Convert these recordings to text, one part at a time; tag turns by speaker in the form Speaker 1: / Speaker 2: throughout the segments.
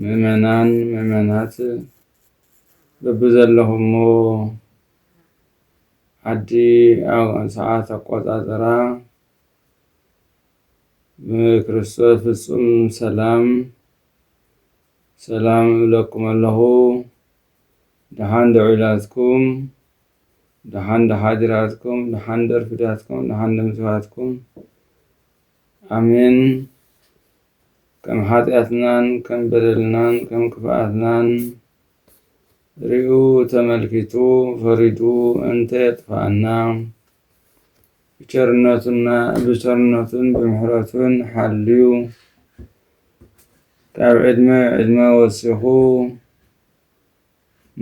Speaker 1: ምእመናን ምእመናት በብዘለኹሞ ዓዲ ሰዓት ኣቆፃፅራ ብክርስቶስ ፍፁም ሰላም ሰላም እብለኩም ኣለኹ። ደሓን ዶ ዒላትኩም፣ ደሓን ዶ ሓዲራትኩም፣ ደሓን ዶ ኣርፊዳትኩም፣ ደሓን ዶ ምስባትኩም ኣሜን ከም ሓጢኣትናን ከም በደልናን ከም ክፍኣትናን ሪኡ ተመልኪቱ ፈሪዱ እንተ የጥፍኣና ብቸርነቱና ብቸርነቱን ብምሕረቱን ሓልዩ ካብ ዕድመ ዕድመ ወሲኹ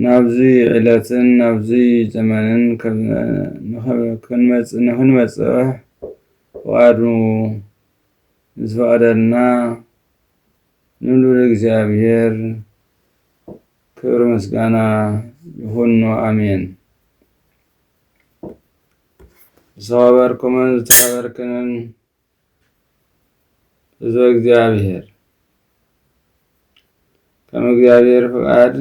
Speaker 1: ናብዚ ዕለትን ናብዚ ዘመንን ንክንበጽሕ ፍቓዱ ንዝፈቐደልና ንልዑል እግዚኣብሔር ክብሪ ምስጋና ይኹኖ ኣሜን። ዝተኸበርኩምን ዝተኸበርክንን ህዝበ እግዚኣብሔር ከም እግዚኣብሔር ፍቃድ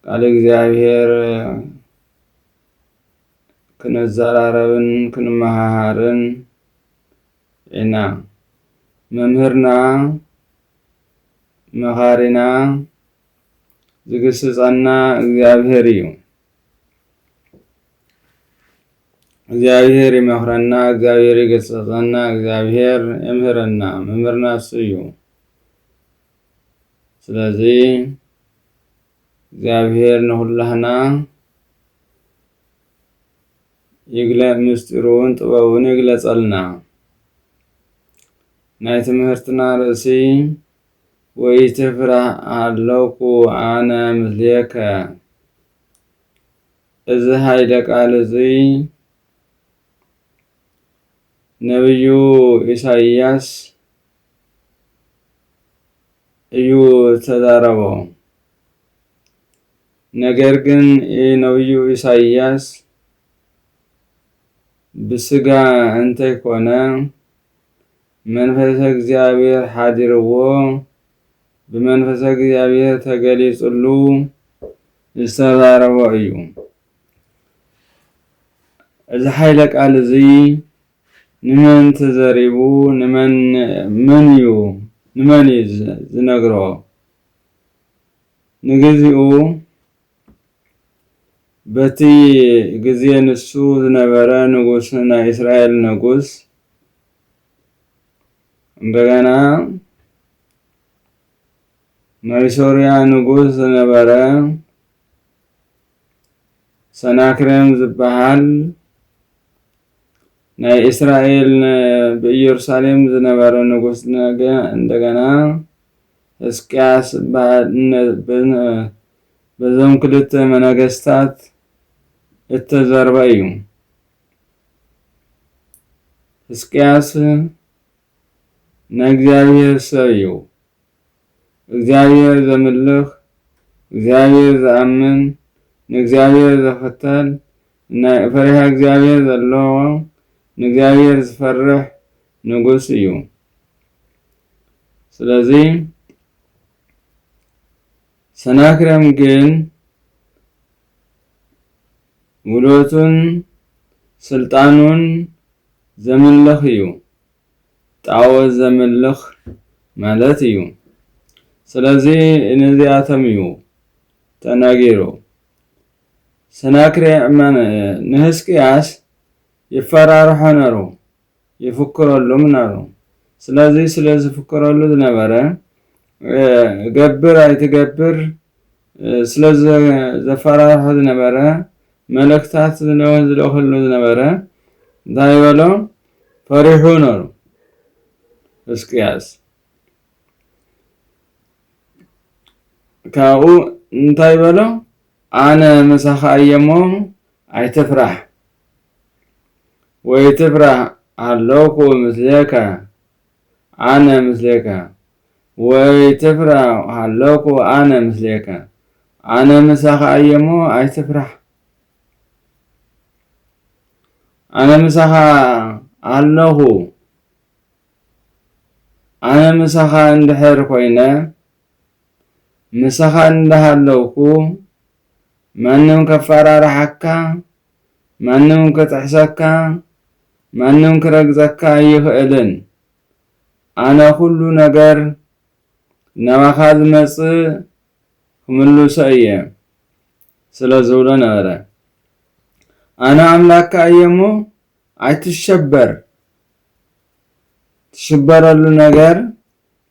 Speaker 1: ቃል እግዚኣብሔር ክንዘራረብን ክንመሃሃርን ኢና። መምህርና መኻሪና ዝግስጸና እግዚኣብሔር እዩ። እግዚኣብሔር ይመኽረና እግዚኣብሔር ይገስጸና እግዚኣብሔር የምህረና መምህርና እሱ እዩ ስለዚ እግዚኣብሔር ንኹላህና ይግለ ምስጢሩን ጥበቡን ይግለጸልና ናይ ትምህርትና ርእሲ ወይትፍራህ ኣለኩ ኣነ ምስሌከ እዚ ሃይለ ቃል እዙይ ነብዩ ኢሳይያስ እዩ ዝተዛረቦ። ነገር ግን ነብዩ ኢሳይያስ ብስጋ እንተይኮነ መንፈሰ እግዚኣብሔር ሓዲርዎ፣ ብመንፈሰ እግዚኣብሔር ተገሊጽሉ ዝተዛረቦ እዩ። እዚ ሓይለ ቃል እዚ ንመን ተዘሪቡ ንመን እዩ ንመን እዩ ዝነግሮ? ንግዚኡ በቲ ግዜ ንሱ ዝነበረ ንጉስ ናይ እስራኤል ንጉስ እንደገና ናይ ሶርያ ንጉስ ዝነበረ ሰናክሬም ዝበሃል ናይ እስራኤል ብኢየሩሳሌም ዝነበረ ንጉስ ነገ እንደገና ሕዝቅያስ በዞም ክልተ መነገስታት እተዘርበ እዩ። ሕዝቅያስን ናይ እግዚኣብሔር ሰብ እዩ፣ እግዚኣብሔር ዘምልኽ እግዚኣብሔር ዝኣምን ንእግዚኣብሔር ዘኽተል ናይ ፈሪሃ እግዚኣብሔር ዘለዎ ንእግዚኣብሔር ዝፈርሕ ንጉስ እዩ። ስለዚ ሰናክሬም ግን ሙሉቱን ስልጣኑን ዘምልኽ እዩ። ጣኦት ዘምልኽ ማለት እዩ። ስለዚ ነዚኣቶም እዩ ተናጊሩ። ሰናክሬም ንህዝቅያስ ይፈራርሖ ነሩ። ይፍክረሉ ምናሩ። ስለዚ ስለ ዝፍክረሉ ዝነበረ፣ ገብር ኣይትገብር ስለ ዘፈራርሖ ዝነበረ፣ መልእኽታት ዝልእኸሉ ዝነበረ፣ እንታይ በሎ? ፈሪሑ ነሩ ህዝቅያስ። ካብኡ እንታይ በሎ? ኣነ ምሳኻ እየ እሞ ኣይትፍራህ ወይትፍራህ ኣለኩ ምስሌካ ኣነ ምስሌካ ወይትፍራህ ኣለኩ ኣነ ምስሌካ ኣነ ምሳኻ እየ እሞ ኣይትፍራህ ኣነ ምሳኻ ኣለኹ ኣነ ምሳኻ እንድሕር ኮይነ ምሳኻ እንዳሃለውኩ ማንም ከፋራርሓካ ማንም ክጥሕሰካ ማንም ክረግጸካ ኣይኽእልን ኣነ ኩሉ ነገር ናባኻ ዝመጽእ ክምልሶ እየ ስለ ዝብሎ ነበረ ኣነ ኣምላካ እየ እሞ ኣይትሸበር ትሽበረሉ ነገር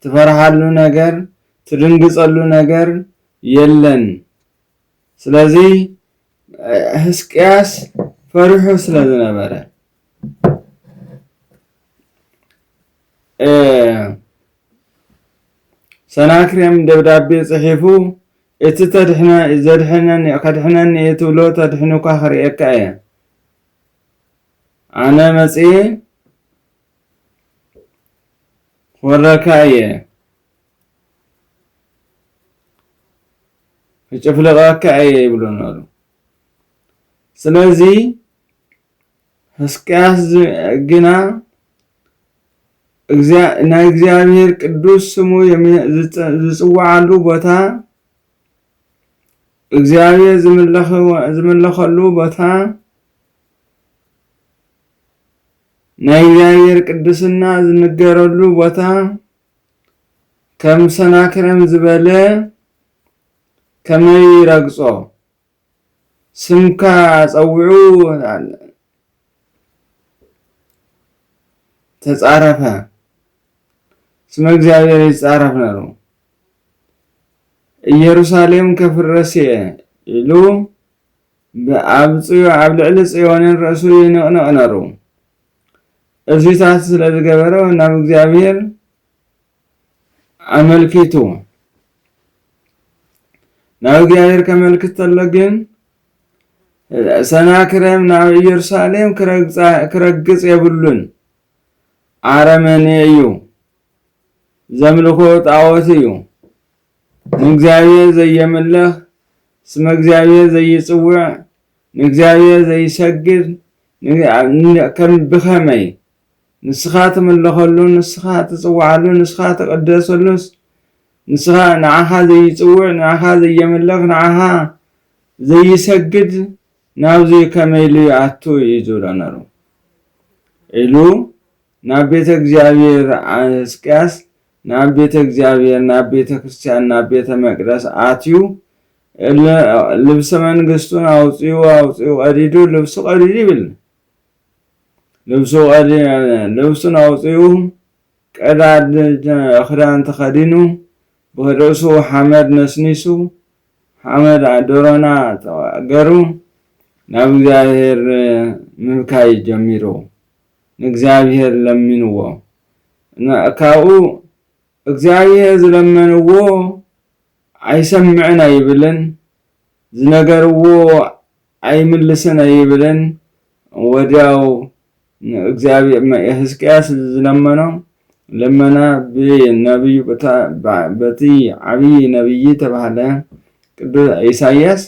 Speaker 1: ትፈርሓሉ ነገር ትድንግጸሉ ነገር የለን ስለዚ ህስቅያስ ፈሪሑ ስለ ዝነበረ ሰናክሬም ደብዳቤ ጽሒፉ እቲ ተድሕነ ዘድሕነኒ ከድሕነኒ እየ ትብሎ ተድሕኑካ ክርእየካ እየ ኣነ መጽኤ ክወረካ እየ ክጭፍልቐካ እየ ይብሎ ነሩ ስለዚ ሕስቅያስ ግና ናይ እግዚኣብሔር ቅዱስ ስሙ ዝጽዋዓሉ ቦታ እግዚኣብሔር ዝምለኸሉ ቦታ ናይ እግዚኣብሔር ቅድስና ዝንገረሉ ቦታ ከም ሰናክረም ዝበለ ከመይ ይረግጾ ስምካ ጸውዑ ተጻረፈ ስመ እግዚኣብሔር ይጻረፍ ነሩ ኢየሩሳሌም ከፍረስ እየ ኢሉ ብኣብ ጽዮ ኣብ ልዕሊ ጽዮንን ርእሱ ይንቕንቕ ነሩ። እዚታት ስለ ዝገበረ ናብ እግዚኣብሔር ኣመልኪቱ። ናብ እግዚኣብሔር ከመልክት ተሎ ግን ሰናክሬም ናብ ኢየሩሳሌም ክረግጽ የብሉን። ኣረመኔ እዩ። ዘምልኾ ጣዖት እዩ። ንእግዚኣብሔር ዘየምልኽ፣ ስመ እግዚኣብሔር ዘይጽውዕ፣ ንእግዚኣብሔር ዘይሰግድ፣ ብኸመይ? ንስኻ ትምለኸሉ፣ ንስኻ ትጽውዓሉ፣ ንስኻ ትቕደሰሉስ፣ ንስኻ ንዓኻ ዘይጽውዕ፣ ንዓኻ ዘየምልኽ፣ ንዓኻ ዘይሰግድ ናብዚ ከመይ ኢሉ ይኣቱ እዩ ዝብሎ ነሩ ኢሉ ናብ ቤተ እግዚኣብሔር ን ሕዝቅያስ ናብ ቤተ እግዚኣብሔር ናብ ቤተ ክርስቲያን ናብ ቤተ መቅደስ ኣትዩ ልብሰ መንግስቱን ኣውፅኡ ኣውፅኡ ቀዲዱ ልብሱ ቀዲዱ ይብል ልብሱ ልብሱን ኣውፅኡ ቀዳድ ክዳን ተኸዲኑ ብርእሱ ሓመድ ነስኒሱ ሓመድ ዶሮና ገሩ ናብ እግዚኣብሔር ምብካይ ጀሚሩ ንእግዚኣብሄር ለሚንዎ እና ካብኡ እግዚኣብሄር ዝለመንዎ ኣይሰምዕን ኣይብልን ዝነገርዎ ኣይምልስን ኣይብልን ወድያው ንእግዚኣብሄር ህዝቅያስ ዝለመኖ ልመና ብነብዩ በቲ ዓብዪ ነብዪ ተባህለ ቅዱስ ኢሳያስ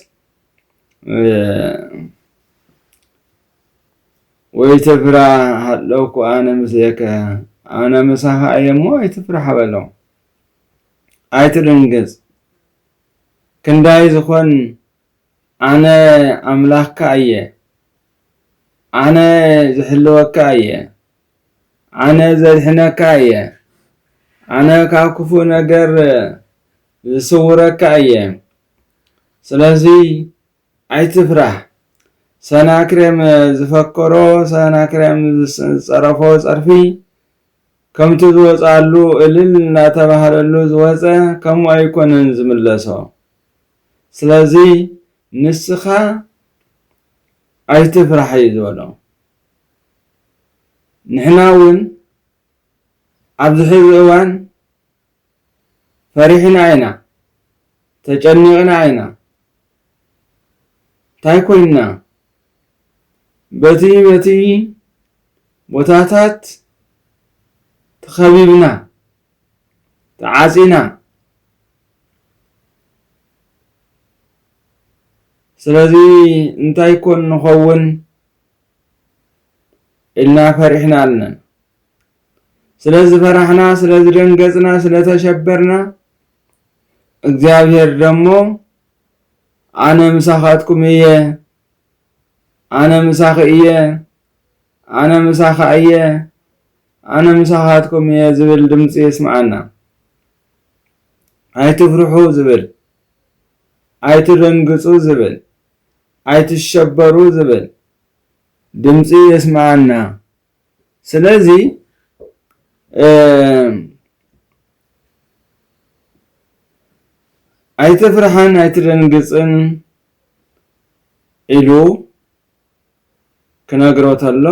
Speaker 1: ወይትፍራ ሃለውኩ ኣነ ምስሌከ ኣነ ምሳኻ እየ እሞ ኣይትፍራሕ በሎ ኣይትድንግጽ ክንዳይ ዝኾን ኣነ ኣምላኽካ እየ ኣነ ዝሕልወካ እየ ኣነ ዘድሕነካ እየ ኣነ ካብ ክፉእ ነገር ዝስውረካ እየ ስለዚ ኣይትፍራህ ሰናክሬም ዝፈከሮ ሰናክሬም ዝጸረፎ ጸርፊ ከምቲ ዝወጽኣሉ እልል እናተባህለሉ ዝወጸ ከምኡ ኣይኮነን ዝምለሶ ስለዚ ንስኻ ኣይትፍራሕ እዩ ዝበሎ ንሕና እውን ኣብዚ ሕዚ እዋን ፈሪሕና ኢና ተጨኒቅና ኢና እንታይ ኮይንና በቲ በቲ ቦታታት ተኸቢብና ተዓጺና ስለዚ እንታይ ኮን ንኸውን ኢልና ፈሪሕና ኣለና ስለ ዝፈራሕና ስለ ዝደንገጽና ስለ ተሸበርና እግዚኣብሔር ደሞ ኣነ ምሳኻትኩም እየ ኣነ ምሳኺ እየ ኣነ ምሳኻ እየ ኣነ ምሳኻትኩም እየ ዝብል ድምፂ የስምዓና ኣይትፍርሑ ዝብል ኣይትደንግጹ ዝብል ኣይትሸበሩ ዝብል ድምፂ የስምዓና ስለዚ ኣይትፍርሓን ኣይትደንግፅን ኢሉ ክነግሮ ተሎ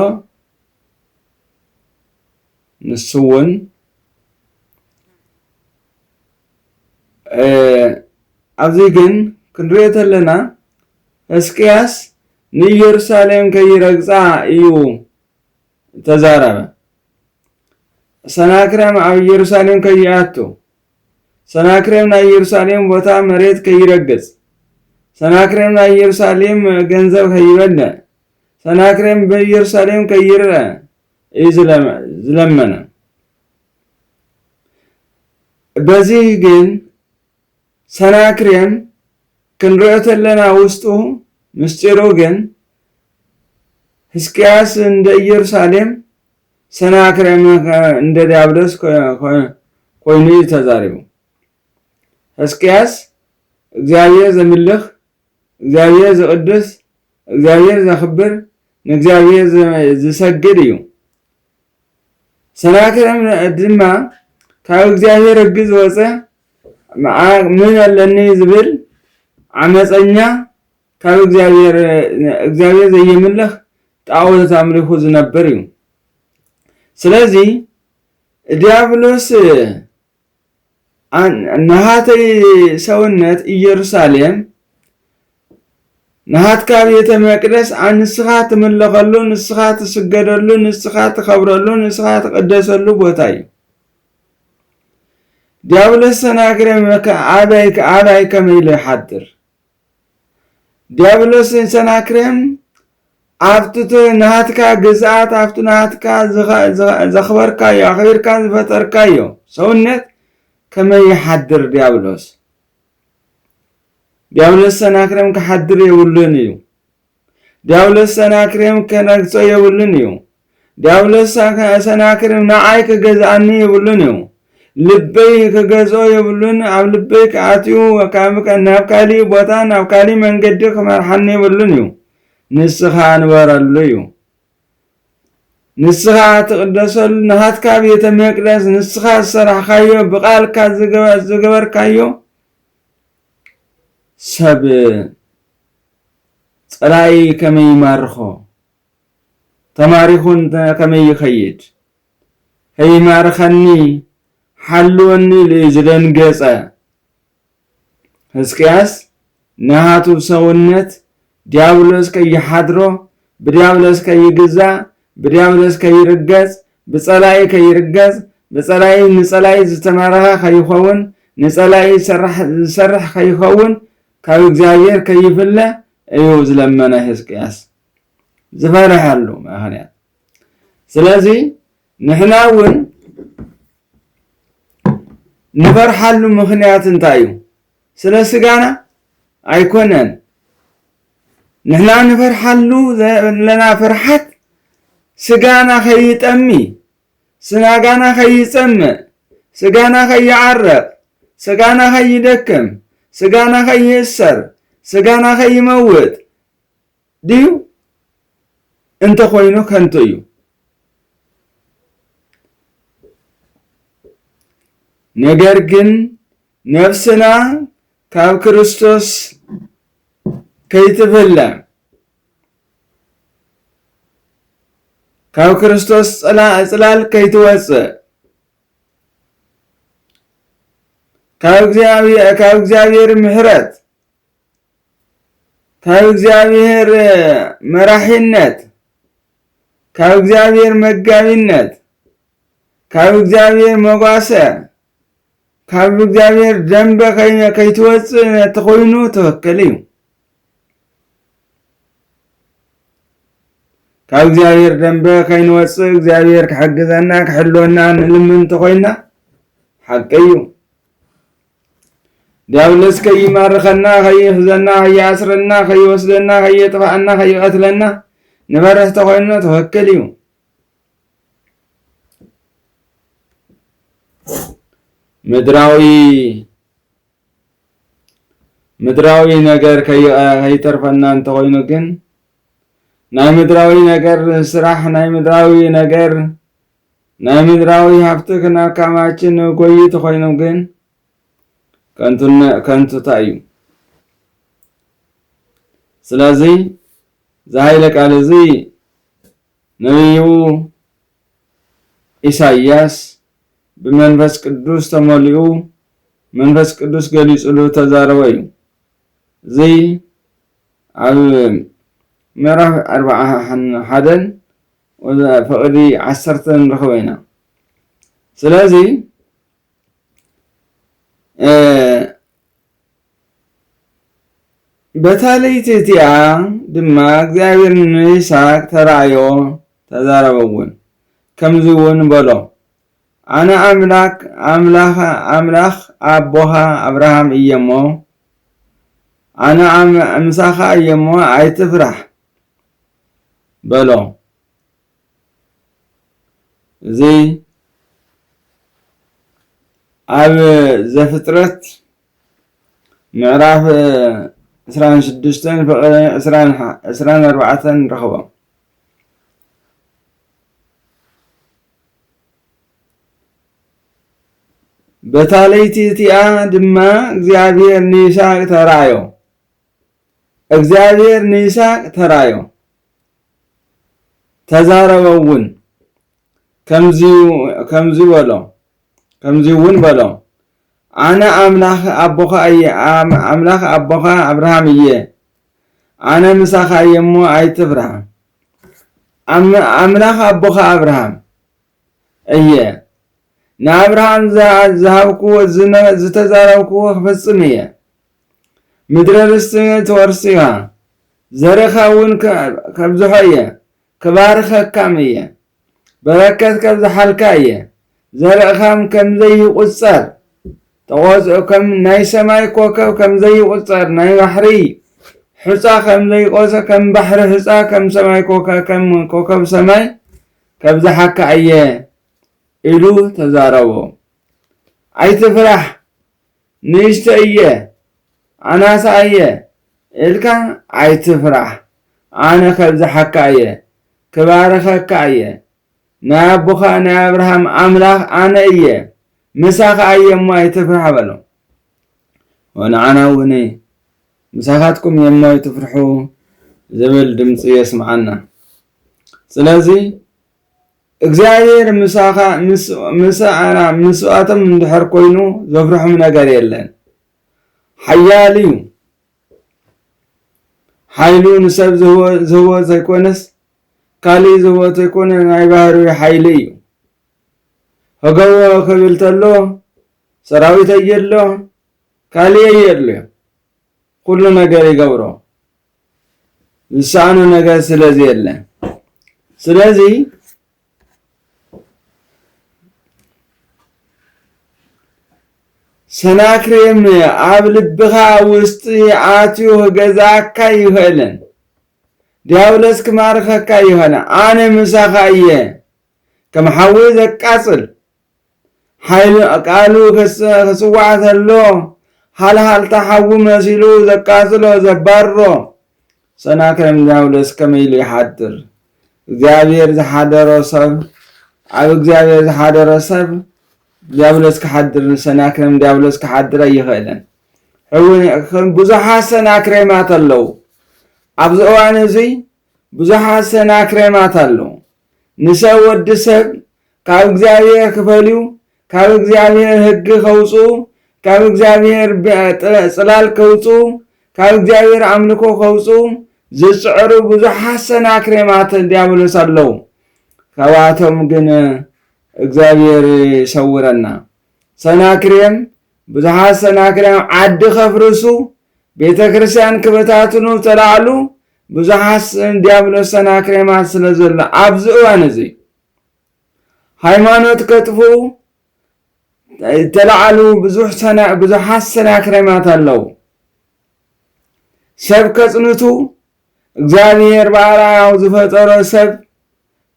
Speaker 1: ንሱ እውን ኣብዚ ግን ክንሪኦ ተለና ህስቅያስ ንኢየሩሳሌም ከይረግጻ እዩ እተዛረበ። ሰናክሬም ኣብ ኢየሩሳሌም ከይኣቱ፣ ሰናክሬም ናይ ኢየሩሳሌም ቦታ መሬት ከይረግጽ፣ ሰናክሬም ናይ ኢየሩሳሌም ገንዘብ ከይበልዕ፣ ሰናክሬም ብኢየሩሳሌም ከይርአ እዩ ዝለመነ። በዚህ ግን ሰናክሬም ክንሪኦ ተለና ውስጡ ምስጢሩ ግን ህዝቅያስ እንደ ኢየሩሳሌም ሰናክሬም እንደ ዲያብሎስ ኮይኑ እዩ ተዛሪቡ ህዝቅያስ እግዚኣብሔር ዘምልኽ እግዚኣብሔር ዘቕድስ እግዚኣብሔር ዘኽብር ንእግዚኣብሔር ዝሰግድ እዩ ሰናክሬም ድማ ካብ እግዚኣብሔር ሕጊ ዝወፀ ምን ኣለኒ ዝብል ዓመፀኛ ካብ እግዚኣብሔር እግዚኣብሔር ዘየምልኽ ጣዖት ኣምልኹ ዝነብር እዩ። ስለዚ ዲያብሎስ ናሃተይ ሰውነት ኢየሩሳሌም ናሃትካ ቤተ መቅደስ ንስኻ ትምለኸሉ ንስኻ ትስገደሉ ንስኻ ትኸብረሉ ንስኻ ትቅደሰሉ ቦታ እዩ ዲያብሎስ ሰናግረ መከ ኣበይ ኣበይ ከመይ ኢሉ ይሓድር ዲያብሎስን ሰናክሬም ኣብቲ ናትካ ግዝኣት ኣብቲ ናትካ ዘኽበርካዮ ኣኽቢርካ ዝፈጠርካዮ ሰውነት ከመይ ይሓድር ዲያብሎስ ዲያብሎስ ሰናክሬም ክሓድር የብሉን እዩ ዲያብሎስ ሰናክሬም ከነግጾ የብሉን እዩ። ዲያብሎስ ሰናክሬም ንዓይ ክገዝኣኒ የብሉን እዩ። ልበይ ክገዝኦ የብሉን፣ ኣብ ልበይ ክኣትዩ ናብ ካሊእ ቦታ ናብ ካሊእ መንገዲ ክመርሓኒ የብሉን እዩ። ንስኻ ንበረሉ እዩ። ንስኻ ትቕደሰሉ ንሃትካ ቤተ መቅደስ ንስኻ ዝሰራሕካዮ ብቓልካ ዝገበርካዮ ሰብ ጸላኢ ከመይ ይማርኾ፣ ተማሪኹ እንተ ከመይ ይኸይድ፣ ከይማርኸኒ ሓልወኒ ኢሉ እዩ ዝደንገጸ። ህዝቅያስ ናቱ ሰውነት ዲያብሎስ ከይሓድሮ፣ ብዲያብሎስ ከይግዛእ፣ ብዲያብሎስ ከይርገጽ፣ ብጸላኢ ከይርገጽ፣ ብጸላኢ ንጸላኢ ዝተማረኸ ከይኸውን፣ ንጸላኢ ዝሰርሕ ዝሰርሕ ከይኸውን ካብ እግዚኣብሔር ከይፍለ እዩ ዝለመነ ሕዝቅያስ ዝፈረሐሉ ምክንያት ስለዚ ንሕና እውን ንፈርሓሉ ምክንያት እንታይ እዩ ስለ ስጋና ኣይኮነን ንሕና ንፈርሓሉ ዘለና ፍርሓት ስጋና ከይጠሚ ስጋና ኸይጸምእ፣ ስጋና ኸይዓረቕ፣ ስጋና ኸይደክም፣ ስጋና ኸይእሰር፣ ስጋና ኸይመውት ድዩ? እንተ ኾይኑ ከንቱ እዩ። ነገር ግን ነፍስና ካብ ክርስቶስ ከይትፍለ ካብ ክርስቶስ ጽላል ከይትወጽእ ካብ እግዚኣብሔር ምሕረት ካብ እግዚኣብሔር መራሒነት ካብ እግዚኣብሔር መጋቢነት ካብ እግዚኣብሔር መጓሰ ካብ እግዚኣብሔር ደንበ ከይነ ከይትወፅእ እንተኾይኑ ትኽክል እዩ ካብ እግዚኣብሔር ደንበ ከይንወፅእ እግዚኣብሔር ክሕግዘና ክሕልወና ንልምን እንተኾይና ሓቂ እዩ ዲያብሎስ ከይማርኸና ከይሕዘና ከይኣስረና ከይወስደና ከየጥፍኣና ከይቀትለና ንበርህ ተኾይኑ ትኽክል እዩ ምድራዊ ምድራዊ ነገር ከይተርፈና እንተኾይኑ ግን ናይ ምድራዊ ነገር ስራሕ ናይ ምድራዊ ነገር ናይ ምድራዊ ሃብቲ ክናካማችን ጎይት ኾይኑ ግን ከንቱታ እዩ። ስለዚ ዝሃይለ ቃል እዚ ነብዩ ኢሳይያስ ብመንፈስ ቅዱስ ተመሊኡ መንፈስ ቅዱስ ገሊጽሉ እተዛረቦ እዩ። እዚ ኣብ ምዕራፍ ኣርብዓን ሓደን ፍቕዲ ዓሰርተ ንረኽቦ ኢና። ስለዚ በታ ለይቲ እቲኣ ድማ እግዚኣብሔር ንይስሃቅ ተራእዮ ተዛረበውን፣ ከምዚውን በሎ፣ ኣነ ኣምላክ ኣምላከ ኣምላክ ኣቦኻ ኣብርሃም እየ እሞ፣ ኣነ ምሳኻ እየ እሞ ኣይትፍራሕ በሎ። እዚ ኣብ ዘፍጥረት ምዕራፍ ዕስራን ሽዱሽተን ፍቕሪ ዕስራን ሓ- ዕስራን ኣርባዕተን ርኽቦ በታ ለይቲ እቲኣ ድማ እግዚኣብሔር ንይስሐቅ ተራእዮ እግዚኣብሔር ንይስሐቅ ተራእዮ ተዛረበ እውን ከምዚ ከምዚ በሎ ከምዚ እውን በሎ ኣነ ኣምላኽ ኣቦኻ እየ፣ ኣምላኽ ኣቦኻ ኣብርሃም እየ፣ ኣነ ምሳኻ እየ እሞ ኣይትፍራህ። ኣምላኽ ኣቦኻ ኣብርሃም እየ፣ ንኣብርሃም ዝሃብክዎ ዝተዛረብክዎ ክፍጽም እየ። ምድረ ርስቲ ትወርስ ኢኻ፣ ዘርእኻ እውን ከብዝሖ እየ፣ ክባርኸካም እየ በረከት ከብዝሓልካ እየ ዘርእኻም ከምዘይቁጸር ተቆጽ ከም ናይ ሰማይ ኮከብ ከምዘይቁጸር ናይ ባሕሪ ሑጻ ከምዘይቆጸ ከም ባሕሪ ሑጻ ከም ሰማይ ኮከብ ከም ኮከብ ሰማይ ከብዝሓካ እየ ኢሉ ተዛረቦ ኣይትፍራሕ ንእሽቶ እየ ኣናሳ እየ እልካ ኣይትፍራሕ ኣነ ከብዝሓካ እየ ክባርኸካ እየ ናይ ኣቦኻ ናይ ኣብርሃም ኣምላኽ ኣነ እየ ምሳኻ እየ እሞ ኣይትፍራሕ በሎ ወንዓና እውን ምሳኻትኩም እየ እሞ ኣይትፍርሑ ዝብል ድምፂ የስምዓና ስለዚ እግዚኣብሔር ምሳኻ ምስ ኣና ምስኣቶም እንድሕር ኮይኑ ዘፍርሖም ነገር የለን ሓያል እዩ ሓይሉ ንሰብ ዝህቦ ዘይኮነስ ካልእ ዝህቦ ዘይኮነ ናይ ባህሪ ሓይሊ እዩ ህገዎ ክብል ተሎ ሰራዊት የድሎ ካልእ የድልዮ ኩሉ ነገር ይገብሮ ዝሰኣኖ ነገር ስለ ዘየለ ስለዚ ሰናክሬም ኣብ ልብኻ ውስጢ ኣትዩ ገዛካ ይኽእልን ዲያብሎስ ክማርኸካ ይኽእልን ኣነ ምሳኻ እየ ከም ሓዊ ዘቃጽል ሓይሉ ቃሉ ክስዋዕ ተሎ ሃልሃልታ ሓዊ መሲሉ ዘቃጽሎ ዘባርሮ ሰናክሬም ዲያብሎስ ከመይ ኢሉ ይሓድር እግዚኣብሔር ዝሓደሮ ሰብ ኣብ እግዚኣብሔር ዝሓደሮ ሰብ ዲያብሎስ ክሓድር ሰናክሬም ዲያብሎስ ክሓድር ኣይኽእልን ሕውን ብዙሓት ሰናክሬማት ኣለዉ ኣብዚ እዋን እዙይ ብዙሓት ሰናክሬማት ኣለዉ። ንሰብ ወዲ ሰብ ካብ እግዚኣብሔር ክፈልዩ፣ ካብ እግዚኣብሔር ህጊ ከውጽኡ፣ ካብ እግዚኣብሔር ጽላል ከውጽኡ፣ ካብ እግዚኣብሔር ኣምልኮ ከውጽኡ ዝጽዕሩ ብዙሓት ሰናክሬማት ዲያብሎስ ኣለዉ። ካብኣቶም ግን እግዚኣብሔር ይሰውረና። ሰናክሬም ብዙሓት ሰናክሬም ዓዲ ከፍርሱ፣ ቤተ ክርስቲያን ክበታትኑ ተላዕሉ፣ ብዙሕ ሓስን ዲያብሎስ ሰናክሬማት ስለ ዘሎ ኣብዚ እዋን እዚ ሃይማኖት ከጥፍኡ ተላዓሉ ብዙሓት ሰናክሬማት ኣለዉ ሰብ ከጽንቱ እግዚኣብሔር ብኣርኣያው ዝፈጠሮ ሰብ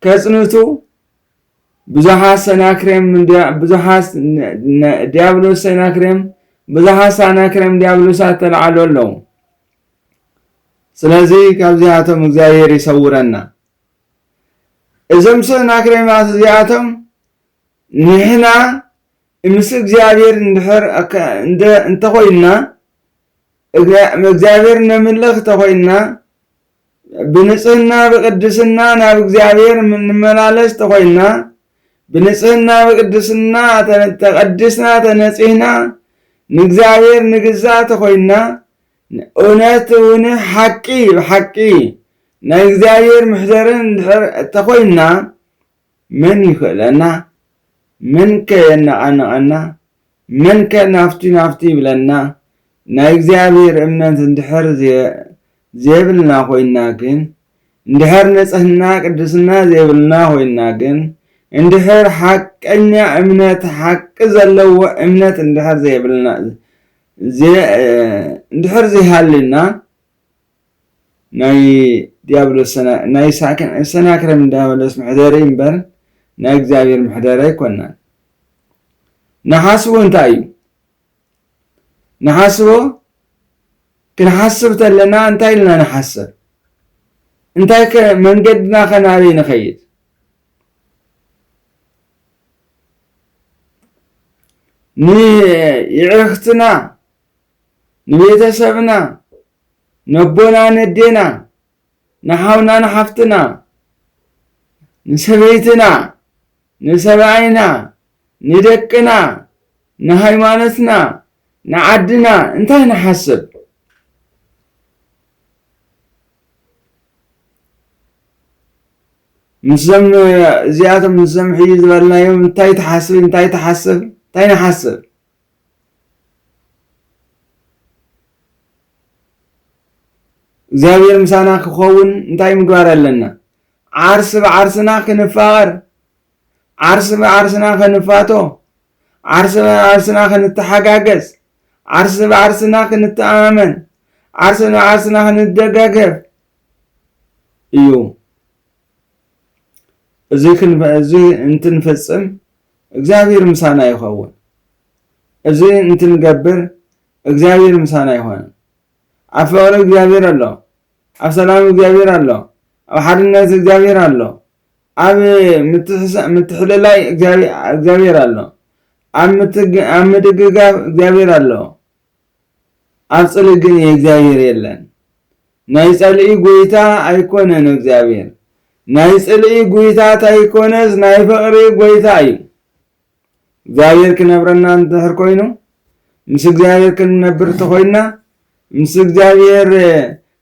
Speaker 1: ከጽንቱ ብዙሓት ሰናክሬም ብዙሓት ዲያብሎስ ሰናክሬም ብዙሓት ሰናክሬም ዲያብሎሳት ተላዓሉ ኣለዉ ስለዚ ካብዚኣቶም እግዚኣብሔር ይሰውረና። እዞም ሰናክሬማት እዚኣቶም ንሕና ምስ እግዚኣብሔር እንድሕር እንተኾይንና እግዚኣብሔር ነምልኽ እንተኾይንና ብንጽህና ብቅድስና ናብ እግዚኣብሔር እንመላለስ እንተኾይንና ብንጽህና ብቅድስና ተቐዲስና ተነጺህና ንእግዚኣብሔር ንግዛእ ተኾይንና እውነት እውን ሓቂ ብሓቂ ናይ እግዚኣብሔር ምሕደርን እንድሕር እተኾይንና መን ይኽእለና መን ከ የነቓንቐና መን ከ ናፍቲ ናፍቲ ይብለና ናይ እግዚኣብሔር እምነት እንድሕር ዘይብልና ኮይንና ግን እንድሕር ንጽህና ቅድስና ዘይብልና ኮይንና ግን እንድሕር ሓቀኛ እምነት ሓቂ ዘለዎ እምነት እንድሕር ዘይብልና እንድሕር ዘይሃልዩና ናይ ዲያብሎስ ናይ ሰናክረም እንዳበለስ መሕደሪ እምበር ናይ እግዚኣብሔር መሕደሪ ኣይኮናን። ንሓስቦ እንታይ እዩ ንሓስቦ ክንሓስብ ተለና እንታይ ኢልና ንሓስብ እንታይ ከ መንገድና ከናበይ ንኸይድ ንየዕርኽትና ንቤተሰብና ነቦና ነዴና ንሓውና ንሓፍትና ንሰበይትና ንሰብኣይና ንደቅና ንሃይማኖትና ንዓድና እንታይ ንሓስብ ምስዞም እዚኣቶም ምስዞም ሕጂ ዝበልናዮም እንታይ ትሓስቢ እንታይ ትሓስብ እንታይ ንሓስብ እግዚኣብሔር ምሳና ክኸውን እንታይ ምግባር ኣለና ዓርሲ ብዓርስና ክንፋቐር ዓርሲ ብዓርስና ክንፋቶ ዓርሲ ብዓርስና ክንተሓጋገዝ ዓርሲ ብዓርስና ክንተኣማመን ዓርሲ ብዓርስና ክንደጋገፍ እዩ። እዚ እዚ እንትንፍጽም እግዚኣብሔር ምሳና ይኸውን። እዚ እንትንገብር እግዚኣብሔር ምሳና ይኾን። ኣብ ፍቕሪ እግዚኣብሔር ኣሎ፣ ኣብ ሰላም እግዚኣብሔር ኣሎ፣ ኣብ ሓድነት እግዚኣብሔር ኣሎ፣ ኣብ ምትሕልላይ እግዚኣብሔር ኣሎ፣ ኣብ ምድግጋፍ እግዚኣብሔር ኣሎ። ኣብ ጽልኢ ግን የእግዚኣብሔር የለን ናይ ጸልኢ ጎይታ ኣይኮነን እግዚኣብሔር ናይ ጽልኢ ጉይታ ታይኮነስ ናይ ፍቕሪ ጎይታ እዩ እግዚኣብሔር ክነብረና እንድሕር ኮይኑ ምስ እግዚኣብሔር ክንነብር ተኾይንና ምስ እግዚኣብሔር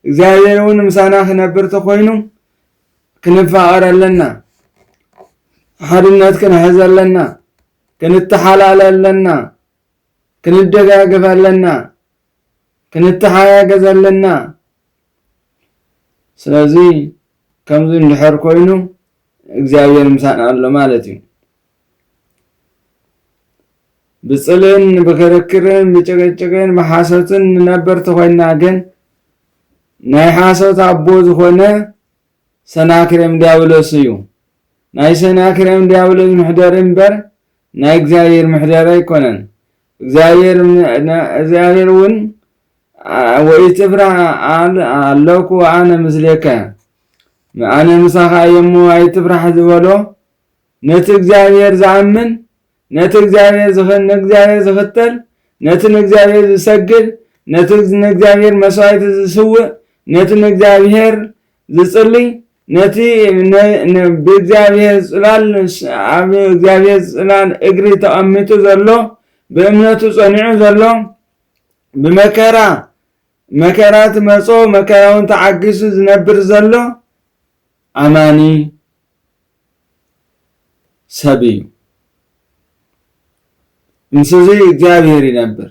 Speaker 1: እግዚኣብሔር እውን ምሳና ክነብር ተኾይኑ ክንፋቐር ኣለና ሓድነት ክንሕዝ ኣለና ክንተሓላለ ኣለና ክንደጋገፍ ኣለና ክንተሓጋገዝ ኣለና ስለዚ ከምዚ እንድሕር ኮይኑ እግዚኣብሔር ምሳና ኣሎ ማለት እዩ ብፅልን ብክርክርን ብጭቅጭቅን ብሓሶትን ንነበር ተኮይና ግን ናይ ሓሶት ኣቦ ዝኾነ ሰናክሬም ዲያብሎስ እዩ ናይ ሰናክሬም ዲያብሎስ ምሕደሪ እምበር ናይ እግዚኣብሔር ምሕደራ ኣይኮነን እግዚኣብሔር እውን ወኢት ትፍራህ ኣለኩ ኣነ ምስሌከ ኣነ ምሳኻ እየ እሞ ኣይትፍራሕ ዝበሎ ነቲ እግዚኣብሔር ዝኣምን ነቲ እግዚኣብሔር ንእግዚኣብሔር ዝኽተል ነቲ ንእግዚኣብሔር ዝሰግድ ነቲ ንእግዚኣብሔር መስዋዕቲ ዝስውእ ነቲ ንእግዚኣብሔር ዝጽልይ ነቲ ብእግዚኣብሔር ጽላል ኣብ እግዚኣብሔር ጽላል እግሪ ተቐሚጡ ዘሎ ብእምነቱ ጸኒዑ ዘሎ ብመከራ መከራ ትመጾ መከራውን ተዓጊሱ ዝነብር ዘሎ ኣማኒ ሰብ እዩ ምስዙይ እግዚኣብሔር ይነብር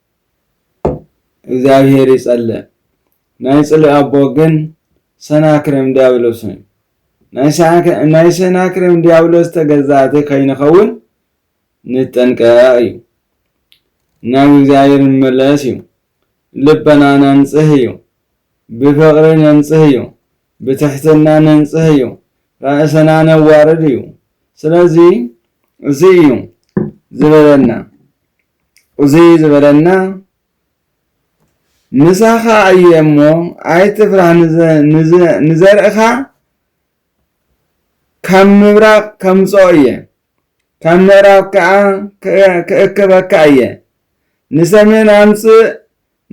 Speaker 1: እግዚኣብሔር ይጸልእ ናይ ጽልኢ ኣቦ ግን ሰናክሬም ዲያብሎስ እዩ። ናይ ሰናክሬም ዲያብሎስ ተገዛእቲ ከይንኸውን ንጠንቀቕ እዩ። ናብ እግዚኣብሔር ንመለስ እዩ። ልበና ነንጽህ እዩ። ብፍቕሪ ነንጽህ እዩ። ብትሕትና ነንጽህ እዩ። ራእሰና ነዋርድ እዩ። ስለዚ እዚ እዩ ዝበለና እዚ ዝበለና ምሳኻ እየ እሞ ኣይትፍራህ ንዘርእኻ ካብ ምብራቕ ከምፅኦ እየ ካብ ምዕራብ ከዓ ክእክበካ እየ ንሰሜን ኣምፅእ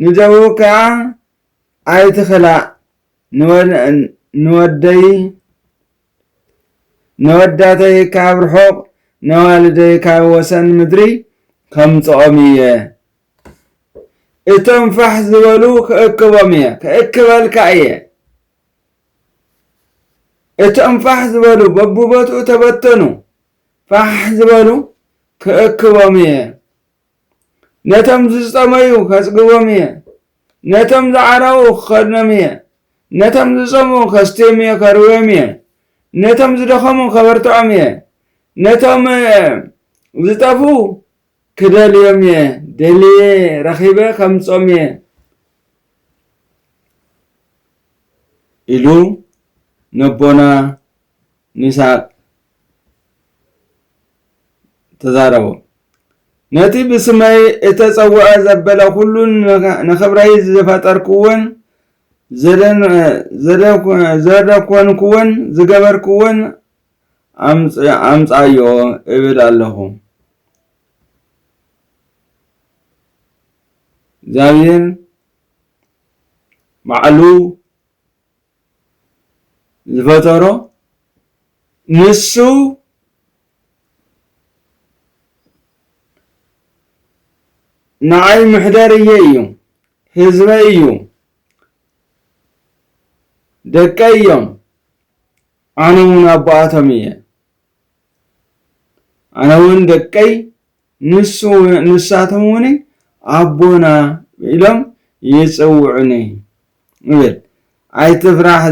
Speaker 1: ንደቡብ ከዓ ኣይትኽላእ ንወደይ ነወዳተይ ካብ ርሑቕ ነዋልደይ ካብ ወሰን ምድሪ ከምጽኦም እየ እቶም ፋሕ ዝበሉ ክእክቦም እየ ክእክበልካ እየ እቶም ፋሕ ዝበሉ በብቦትኡ ተበተኑ ፋሕ ዝበሉ ክእክቦም እየ ነቶም ዝጸመዩ ከጽግቦም እየ፣ ነቶም ዝዓረቑ ክኸድኖም እየ፣ ነቶም ዝጸምኡ ከስትዮም እየ ከርውዮም እየ፣ ነቶም ዝደኸሙ ከበርትዖም እየ፣ ነቶም ዝጠፍኡ ክደልዮም እየ፣ ደልየ ረኺበ ከምጽኦም እየ ኢሉ ነቦና ንሳ ተዛረቦ። ነቲ ብስመይ እተጸውዐ ዘበለ ዅሉን ንኽብረይ ዝፈጠርክዎን ዘደኰንክዎን ዝገበርክዎን ኣምጽኣዮ እብል ኣለኹ። እግዚኣብሄር ባዕሉ ዝፈጠሮ ንሱ ንዓይ ምሕደር እየ እዩ ህዝበ እዩ ደቀ እዮም ኣነ እውን ኣቦኣቶም እየ ኣነ እውን ደቀይ ንሳቶም እውን ኣቦና ኢሎም ይፅውዑኒ ይብል። ኣይትፍራሕ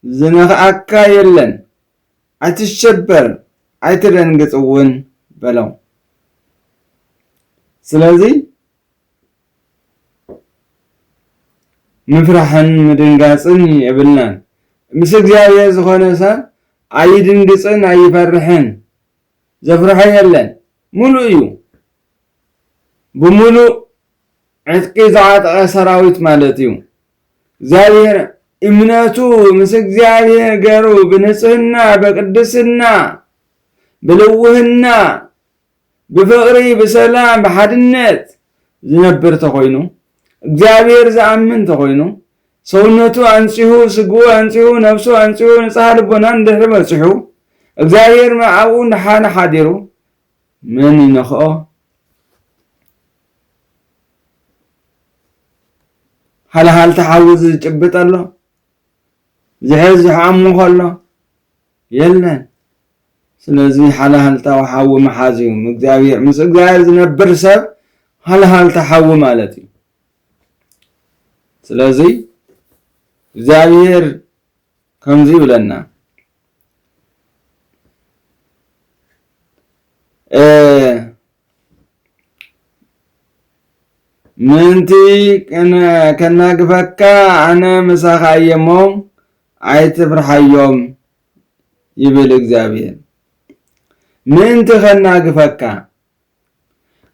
Speaker 1: ዝነኽኣካ የለን፣ ኣይትሸበር ኣይትደንግፅ እውን በሎም። ስለዚ ምፍራሕን ምድንጋጽን የብልናን። ምስ እግዚኣብሔር ዝኾነ ሰብ ኣይድንግጽን ኣይፈርሕን። ዘፍርሖ የለን። ሙሉእ እዩ። ብሙሉእ ዕጥቂ ዝዓጠቐ ሰራዊት ማለት እዩ። እግዚኣብሔር እምነቱ ምስ እግዚኣብሔር ገሩ ብንጽህና፣ በቅድስና፣ ብልውህና ብፍቕሪ ብሰላም ብሓድነት ዝነብር ተኾይኑ እግዚኣብሔር ዝኣምን ተኾይኑ ሰውነቱ ኣንጺሁ ስግኡ ኣንጺሁ ነብሱ ኣንጺሁ ንጽሃ ልቦና እንድሕሪ በጺሑ እግዚኣብሔር ምዓኡ እንድሓነ ሓዲሩ መን ይነኽኦ ሃልሃልታ ሓዊ ዝጭብጥ ኣሎ ዝሕዝ ዝሓሙ ከሎ የለን ስለዚ ሃልሃልታዊ ሓዊ ምሓዝ እዩ እግዚኣብሄር ምስ እግዚኣብሄር ዝነብር ሰብ ሃልሃልታ ሓዊ ማለት እዩ ስለዚ እግዚኣብሄር ከምዚ ይብለና ምእንቲ ከናግፈካ ኣነ ምሳኻ እየ እሞ ኣይትፍርሓዮም ይብል እግዚኣብሄር። ምእንቲ ኸናግፈካ፣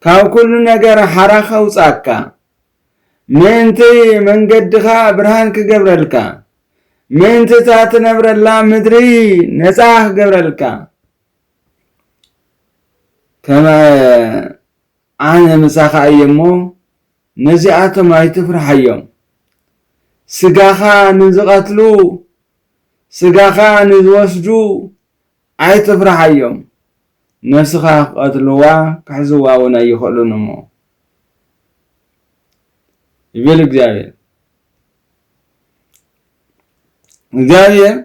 Speaker 1: ካብ ኵሉ ነገር ሓራ ኸውጽኣካ፣ ምእንቲ መንገድኻ ብርሃን ክገብረልካ፣ ምእንቲ እታ ትነብረላ ምድሪ ነጻ ክገብረልካ ከመ ኣነ ምሳኻ እየ እሞ፣ ነዚኣቶም ኣይትፍርሓዮም። ስጋኻ ንዚቐትሉ፣ ስጋኻ ንዚወስዱ ኣይትፍርሓዮም፣ ነፍስኻ ኪቐትልዋ፣ ኪሕዝዋውን ኣይኽእሉን እሞ፣ ይብል እግዚኣብሄር። እግዚኣብሄር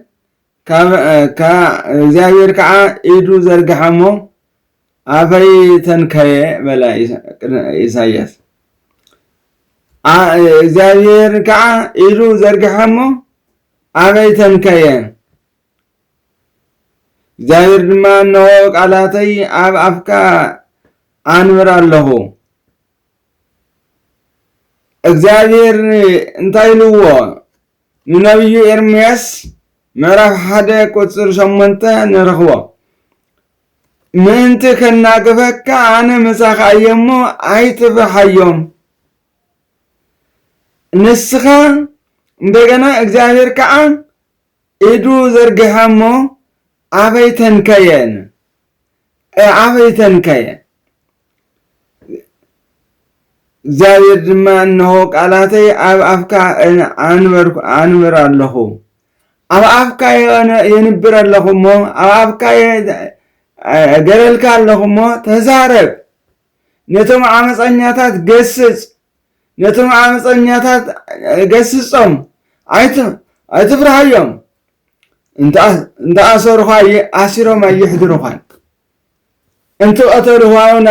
Speaker 1: እግዚኣብሄር ከዓ ኢዱ ዘርግሓ እሞ ኣፈይ ተንከየ በለ ኢሳያስ። እግዚኣብሄር ከዓ ኢዱ ዘርግሐ እሞ ኣበይ ተንከየ እግዚኣብሔር ድማ እነሆ ቃላተይ ኣብ ኣፍካ ኣንብር ኣለኹ እግዚኣብሔር እንታይ ኢልዎ ንነብዩ ኤርምያስ ምዕራፍ ሓደ ቁጽሪ ሸሞንተ ንረኽቦ። ምእንቲ ከናግፈካ ኣነ ምሳኻ እየ እሞ ኣይትፍርሓዮም። ንስኻ እንደገና እግዚኣብሔር ከዓ ኢዱ ዘርጊሐ እሞ ኣበይ ተንከየን ኣዕበይተን ከ እየን። እግዚኣብሔር ድማ እነሆ ቃላተይ ኣብ ኣፍካ ኣንብር ኣለኹ፣ ኣብ ኣፍካ የንብር ኣለኹ እሞ ኣብ ኣፍካ ገለልካ ኣለኹ እሞ ተዛረብ፣ ነቶም ዓመፀኛታት ገስፅ፣ ነቶም ዓመፀኛታት ገስፆም፣ ኣይትፍርሃዮም፣ እንተኣሰሩኻ ኣሲሮም ኣይሕድሩኻን፣ እንትቐተሉኻ እውን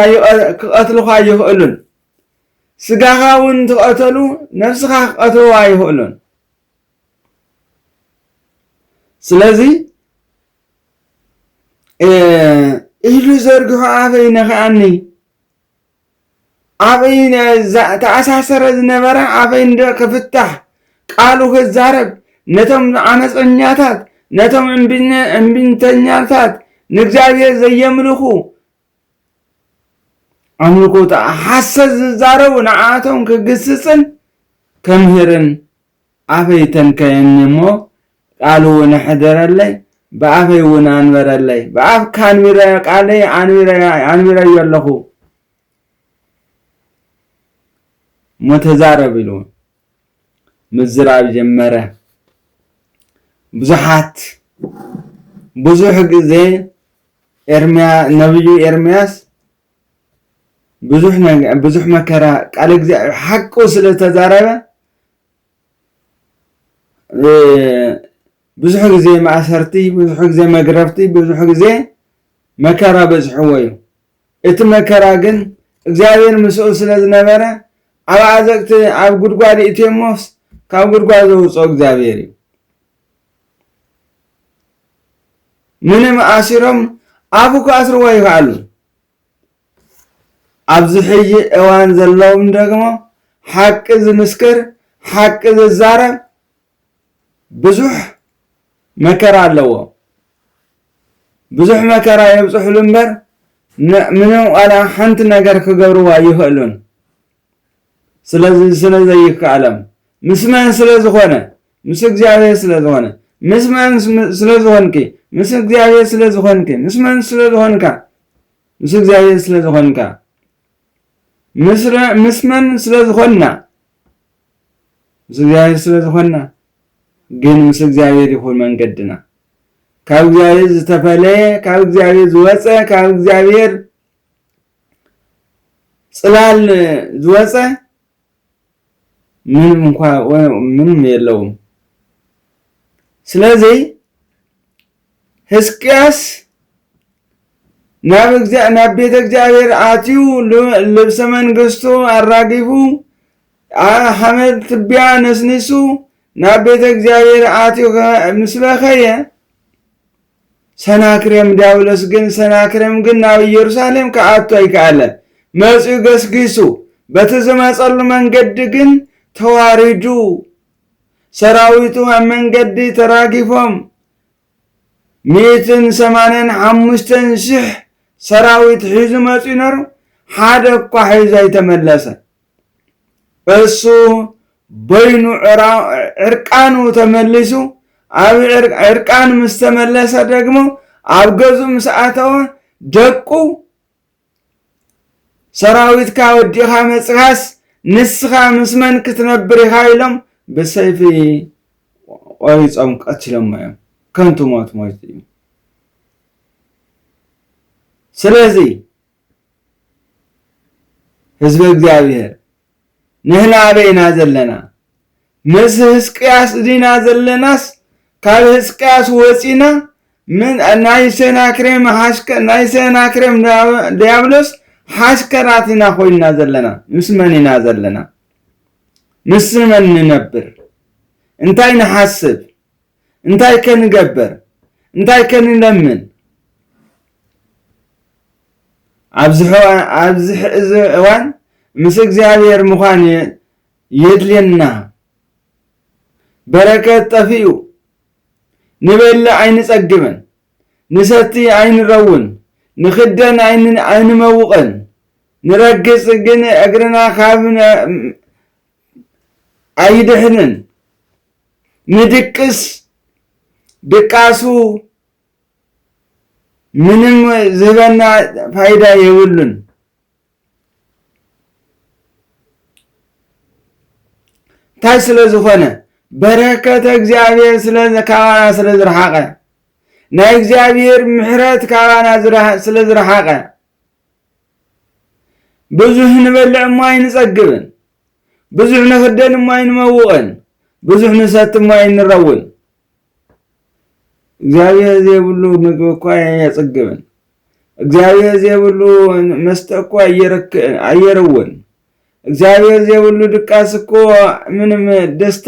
Speaker 1: ክቐትሉኻ ኣይኽእሉን፣ ስጋኻ እውን እንትቐተሉ ነብስኻ ክቐትልዋ ኣይኽእሉን። ስለዚ ኢዱ ዘርግሑ ኣፈይ ነኸኣኒ ኣበይ ተኣሳሰረ ዝነበረ ኣበይ እንደ ክፍታሕ ቃሉ ክዛረብ ነቶም ዓመፀኛታት ነቶም እምቢተኛታት ንእግዚኣብሔር ዘየምልኹ ኣምልኮ ሓሰት ዝዛረቡ ንዓቶም ክግስፅን ከምህርን ኣፈይ ተንከየኒ እሞ ቃልውን ኣሕደረለይ ብኣፈይ እውን ኣንበረለይ ብኣፍካ ኣንቢረዮ ቃለይ ኣንቢረዮ ኣለኹ እሞ ተዛረብ ኢሉ ምዝራብ ጀመረ ብዙሓት ብዙሕ ግዜ ኤርምያ ነብዩ ኤርምያስ ብዙሕ መከራ ቃል እግዚኣብሔር ሓቁ ስለ ተዛረበ ብዙሕ ግዜ ማእሰርቲ፣ ብዙሕ ግዜ መግረፍቲ፣ ብዙሕ ግዜ መከራ በዝሕዎ እዩ። እቲ መከራ ግን እግዚኣብሔር ምስኡ ስለ ዝነበረ ኣብ ዓዘቅቲ ኣብ ጉድጓድ እትዮሞስ ካብ ጉድጓድ ዘውፅኦ እግዚኣብሔር እዩ። ምንም ኣሲሮም ኣፉ ክኣስርዎ ይኸኣሉ። ኣብዚ ሕጂ እዋን ዘለውም ደግሞ ሓቂ ዝምስክር ሓቂ ዝዛረብ ብዙሕ መከራ ኣለዎ ብዙሕ መከራ የብፅሕሉ እምበር ምንም ቃላ ሓንቲ ነገር ክገብርዋ ይኽእሉን ስለዚ ስለ ዘይከኣለም ምስ መን ስለ ዝኾነ ምስ እግዚኣብሔር ስለ ዝኾነ ምስ መን ስለ ዝኾንኪ ምስ እግዚኣብሔር ስለ ዝኾንኪ ምስ መን ስለ ዝኾንካ ምስ እግዚኣብሔር ስለ ዝኾንካ ምስ መን ስለ ዝኾና ምስ እግዚኣብሔር ስለ ዝኾና ግን ምስ እግዚኣብሔር ይኹን መንገድና ካብ እግዚኣብሔር ዝተፈለየ ካብ እግዚኣብሔር ዝወፀ ካብ እግዚኣብሔር ፅላል ዝወፀ ምንም እንኳ ምንም የለውም ስለዚ ህዝቅያስ ናብ ናብ ቤተ እግዚኣብሔር ኣትዩ ልብሰ መንግስቱ ኣራጊፉ ሓመድ ትቢያ ነስኒሱ ናብ ቤተ እግዚኣብሔር ኣትዩ ምስ በኸየ ሰናክሬም ዲያብሎስ ግን ሰናክሬም ግን ናብ ኢየሩሳሌም ክኣቱ ኣይከኣለን። መጺኡ ገስጊሱ በቲ ዝመጸሉ መንገዲ ግን ተዋሪዱ ሰራዊቱ ኣብ መንገዲ ተራጊፎም ሚእትን ሰማንያን ሓሙሽተን ሽሕ ሰራዊት ሒዙ መጺኡ ነሩ ሓደ እኳ ሒዙ ኣይተመለሰን። እሱ በይኑ ዕርቃኑ ተመሊሱ ኣብ ዕርቃኑ ምስ ተመለሰ ደግሞ ኣብ ገዙ ምስ ኣተወ ደቁ ሰራዊትካ ወዲኻ መፅኻስ ንስኻ ምስ መን ክትነብር ኢኻ ኢሎም ብሰይፊ ቆሪፆም ቀትሎሞ እዮም ከንቱ ሞት ሞይቱ እዩ ስለዚ ህዝበ እግዚኣብሔር ንህና ኣበይ ኢና ዘለና? ምስ ህዝቅያስ ዲና ዘለናስ ካብ ህዝቅያስ ወፂና ናይ ሰናክሬም ናይ ሰናክሬም ዲያብሎስ ሓሽከራት ኢና ኮይንና ዘለና። ምስ መን ኢና ዘለና? ምስ መን ንነብር? እንታይ ንሓስብ? እንታይከ ንገበር እንታይከ ንለምን ኣብዚ ሕዚ እዋን ምስ እግዚኣብሔር ምዃን የድልየና በረከት ጠፊኡ ንበልዕ ኣይንጸግብን ንሰቲ ኣይንረውን ንክደን ኣይንመውቕን ንረግጽ ግን እግርና ካብ ኣይድሕንን ምድቅስ ድቃሱ ምንም ዝህበና ፋይዳ የብሉን። እንታይ ስለ ዝኾነ በረከተ እግዚኣብሔር ስለ ካባና ስለ ዝረሓቐ ናይ እግዚኣብሔር ምሕረት ካባና ስለ ዝረሓቐ ብዙህ ንበልዕ እሞ ኣይንጸግብን። ብዙሕ ንኽደን እሞ ኣይንመውቕን፣ ብዙሕ ንሰቲ እሞ ኣይንረውን። እግዚኣብሔር ዘይብሉ ምግቢ እኳ ኣየጽግብን፣ እግዚኣብሔር ዘይብሉ መስተ እኳ ኣየርውን፣ እግዚኣብሔር ዘይብሉ ድቃስ እኮ ምንም ደስታ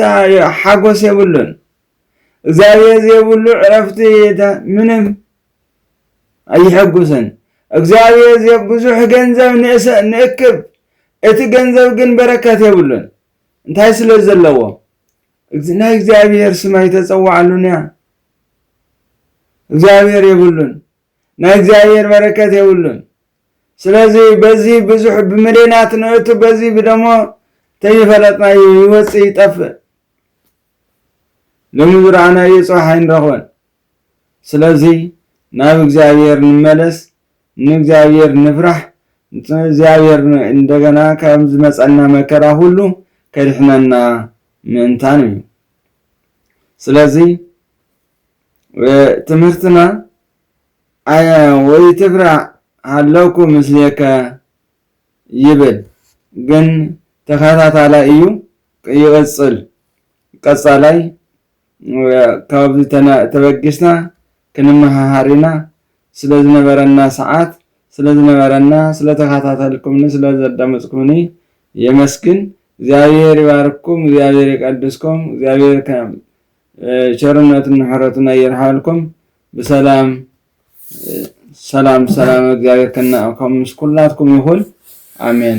Speaker 1: ሓጎስ የብሉን፣ እግዚኣብሔር ዘይብሉ ዕረፍቲ ምንም ኣይሕጉስን። እግዚኣብሔር ዚብ ብዙሕ ገንዘብ ንእክብ፣ እቲ ገንዘብ ግን በረከት የብሉን። እንታይ ስለ ዘለዎ? ናይ እግዚኣብሔር ስም ኣይተጸዋዕሉን እያ። እግዚኣብሔር የብሉን። ናይ እግዚኣብሔር በረከት የብሉን። ስለዚ በዚ ብዙሕ ብምሌናት ንእቱ በዚ ብደሞ ተይፈለጥና ይወፅ ይጠፍእ ሎሚ ዝረኣናዮ ፅባሕ ኣይንረኽበን ስለዚ ናብ እግዚኣብሔር ንመለስ ንእግዚኣብሔር ንፍራሕ እግዚኣብሔር እንደገና ካብ ዝመጸና መከራ ኩሉ ከድሕነና ምእንታን እዩ ስለዚ ትምህርትና ወይ ትፍራዕ ሃለኩ ምስሌከ ይብል ግን ተኸታታላይ እዩ ይቕጽል ቀጻላይ ካብዚ ተበጊስና ክንመሃሃር ኢና። ስለ ዝነበረና ሰዓት፣ ስለ ዝነበረና፣ ስለ ተኸታተልኩምኒ፣ ስለ ዘዳመጽኩምኒ የመስግን። እግዚኣብሔር ይባርክኩም፣ እግዚኣብሔር ይቀድስኩም፣ እግዚኣብሔር ከም ቸርነቱን ምሕረቱን ኣየርሓልኩም። ብሰላም ሰላም ሰላም እግዚኣብሔር ከናእኩም ምስ ኩላትኩም ይኹን። ኣሜን።